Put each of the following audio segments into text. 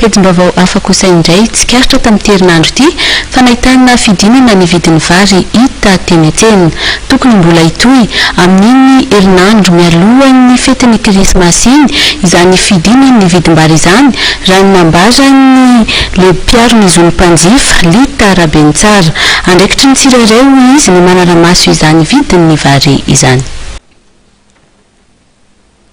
Petim-baovao hafa kosa indray tsikaritra tamin'ity herinandro ity fa nahitana fidinana ny vidin'ny vary hita teny an-tsena. Tokony mbola hitohy amin'iny herinandro mialohan'ny fetin'ny krismasy iny izany fidinan'ny vidim-bary izany raha ny nambaran'ny lehiby mpiaro ny zon'ny mpanjifa, Lita Rabenitsara. Andraikitry ny tsirairay hoy izy ny manara-maso izany vidin'ny vary izany.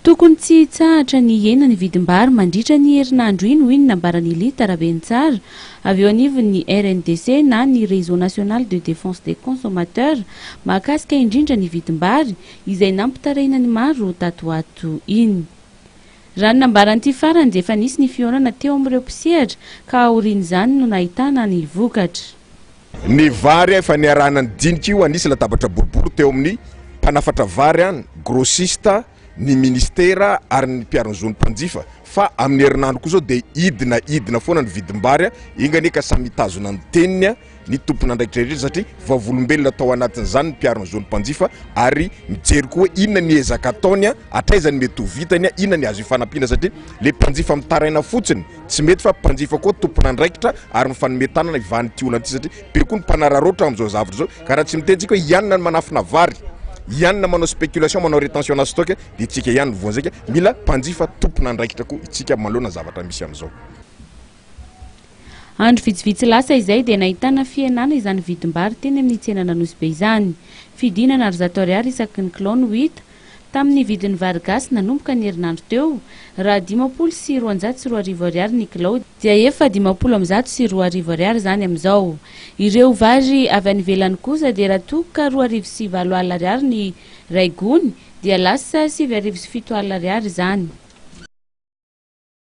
Tokony tsy hitsahatra ny hihena ny vidim-bary mandritra ny herinandro iny, hoy ny nambaran'i Lita Rabentsara, avy eo anivon'ny RNDC na ny Réseau National de Défense des Consommateurs, mahakasika indrindra ny vidim-bary, izay nampitarihina ny maro tato ho ato iny. Raha ny nambaran'ity farany dia efa nisy ny fihaonana teo amin'ireo mpisehatra ka aorian'izany no nahitana ny vokatra. Ny vary efa niarahana nidinika io hanisy latabatra boribory teo amin'ny mpanafatra vary an, grossiste, ny ministera ary ny mpiaro ny zon'ny mpanjifa fa amin'ny herinandro koa izao dia hidina hidina foana ny vidim-bary an, enga anie ka samy hitazona ny teniny an, ny tompon'andraikitra rehetra satria vavolombelona tao anatin'izany ny mpiaro ny zon'ny mpanjifa ary mijery koa hoe inona ny ezaka ataony an, hatraiza ny mety ho vitany an, inona ny azo ifanampiana satria ilay mpanjifa mitaraina fotsiny. Tsy mety fa mpanjifa koa tompon'andraikitra ary mifanome tanana hivanity olana ity satria be koa ny mpanararaotra amin'izao zavatra izao ka raha tsy mitentsika hoe ianona ny manafina vary, ianona manao spéculation, manao rétention na stock dia tsika ihany no voan'ny saika, mila mpanjifa tompon'andraikitra koa itsika manoloana ny zavatra misy amin'izao. Andro vitsivitsy lasa izay dia nahitana fihenana izany vidim-bary teny amin'ny tsenan'Anosibe izany. Fidinana ary zato ariary isaky ny kilao no hita Tamin'ny vidin'ny vary gasy nanomboka ny herinandro teo, raha dimampolo sy roanjato sy roa arivo ariary ny kilao, dia efa dimampolo amby zato sy roa arivo ariary izany amin'izao. Ireo vary avy any ivelany kosa dia raha toa ka roa arivo sy valo alina ariary ny iray gony, dia lasa sivy arivo sy fito alina ariary izany.